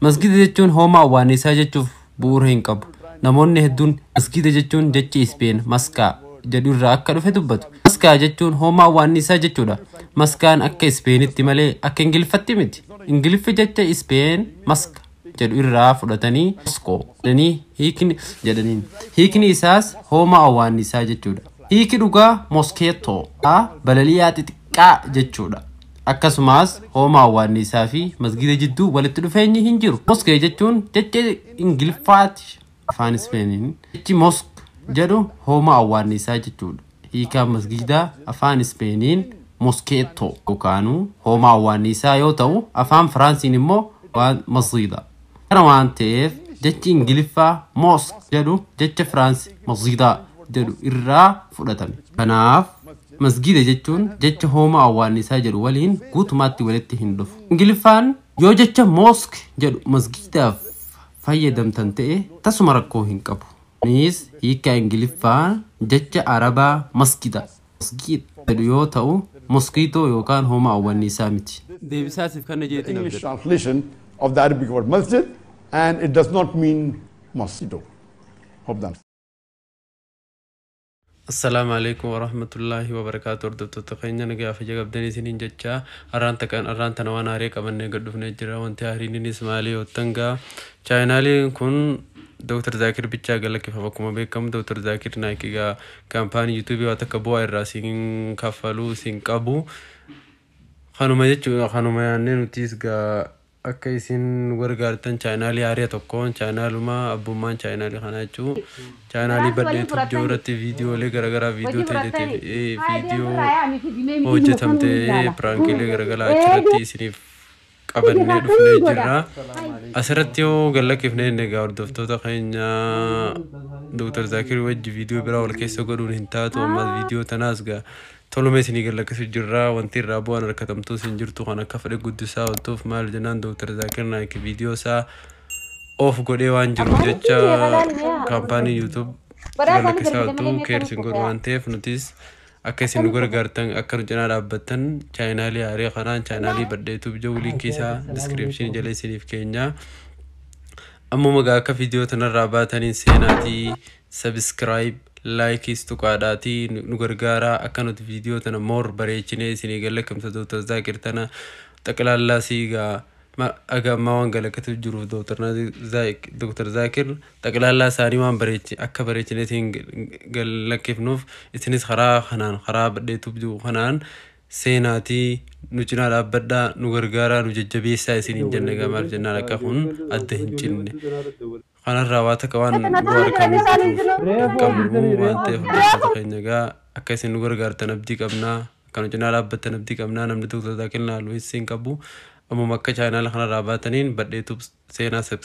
Masgiida jechuun hoomaa awwaannisaa jechuuf bu'uura hin qabu. Namoonni hedduun masgiida jechuun jecha Ispeen maskaa jedhu irraa akka dhufe dubbatu. Maskaa jechuun hoomaa awwaannisaa jechuudha. Maskaan akka Ispeenitti malee akka Ingiliffatti miti. Ingiliffi jecha Ispeen maska jedhu irraa fudhatanii moskoo jedhanii hiikni jedhaniin. Hiikni isaas hoomaa awwaannisaa jechuudha. Hiiki dhugaa moskeettoo balali'aa xixiqqaa. dha jechuu dha. Akkasumaas hoomaa awwaanniisaa fi masgiida jidduu walitti dhufeenyi hin jiru. Moskee jechuun jecha Ingiliffaati, afaan Ispeeniin jechi mosque jedhu hoomaa awwaanniisaa jechuu dha. Hiikaan masgiidaa afaan Ispeeniin mosqueto yookaanuu hoomaa awwaanniisaa yoo ta'u, afaan Firaansiin immoo masjida. Kana waan ta'eef jechi Ingiliffaa mosque jedhu jecha Firaansi masjidaa jedhu irraa fudhatame. Kanaaf masgiida jechuun jecha hoomaa awwaannisaa jedhu waliin guutumaatti walitti hin dhufu. Ingiliffaan yoo jecha mosque jedhu masgiidaaf fayyadamtan ta'e tasuma rakkoo hin qabu. Kunis hiikkaa Ingiliffaa jecha Arabaa masjida Mosquito jedhu yoo ta'u, moskiitoo yookaan homa awwanniisaa miti. Deebisaa siif kanna jeetiin English abdadha. translation of the Arabic word masjid, and it does not mean mosquito. Hope that. Assalaamu alaikum warahmatullaahi wabarakaatu hordoftoota keenya nagaa fi jagabdanii isiniin jechaa arraan taqaan arraan tana waan haarii qabannee gad dhufnee jira wanti haariininis maalii hoottan gaa chaayinaaliin kun Dr. Zaakir bichaa galakkifama akkuma beekamu Dr. Zaakir naayikii gaa Kaampaanii YouTube waa takka bu'aa irraa siin kaffaluu siin qabu. Kanuma jechuudha kanuma yaannee nutiis gaa akka isin gargaartan chaanaalii haariya tokkoon chaanaaluma abbummaan chaanaalii kanaa jechuu chaanaalii bal'ee YouTube jiru irratti viidiyoolee garagaraa viidiyoo teeteetiif viidiyoo hojjetamtee piraankiilee garagaraa achirratti isiniif qabannee dhufnee jirra. Asirratti yoo gad lakkifnee inni egaa hordoftoota keenya Dr. Zaakir wajji viidiyoo biraa wal keessa godhuun hin taatu ammas viidiyoo tanaas gaa toluma isinii gad lakkisu jirra wanti irraa bu'aan harkatamtuu isin jirtu kan akka fedhe guddisaa oltuuf maal jennaan Dr. Zaakir Naayik viidiyoo isaa of godhee waan jiruuf jecha kaampaanii YouTube gad lakkisaa oltuu keersin godhu waan ta'eef nutis Akka isin nu gargaartan akka nu cinaa dhaabbattan chaayinaalii haaraa kanaan chaayinaalii badhee tuub jedhu linkii isaa diskiripshinii jala isiniif keenya ammuma gaa akka viidiyoo tanarraa baataniin seenaatii sabiskiraayib laayikiis tuqaadhaatii nu gargaaraa akka nuti viidiyoo tana moor bareechinee isinii galla kimsa dooktar zaakir tana xaqilaallaa siigaa Ma- Aga ammaa waan galaqatuuf jiruuf Dr. Nazi- Zaak- Dr. Zaakir xaqlaallaa isaanii waan bareechi akka bareechine isin galakkifnuuf isinis karaa kanaan karaa badheetuuf jiru kanaan seenaatii nu cinaa dhaabbadhaa nu gargaaraa nu jajjabeessaa isiniin jenna egaa maal jennaan akka kun adda hin cinne Kanarraa waa takka waan bu'aa argamuu beekuuf hin qabnu waan ta'eef hordoftoota keenya egaa akka isin nu gargaartan abdii qabna akka nu cinaa dhaabbattan abdii qabna namni Dr. Zaakir Naalu hin siin qabu ammuma akka chaayinaala kanarraa baataniin badhee tubs seenaa subscribe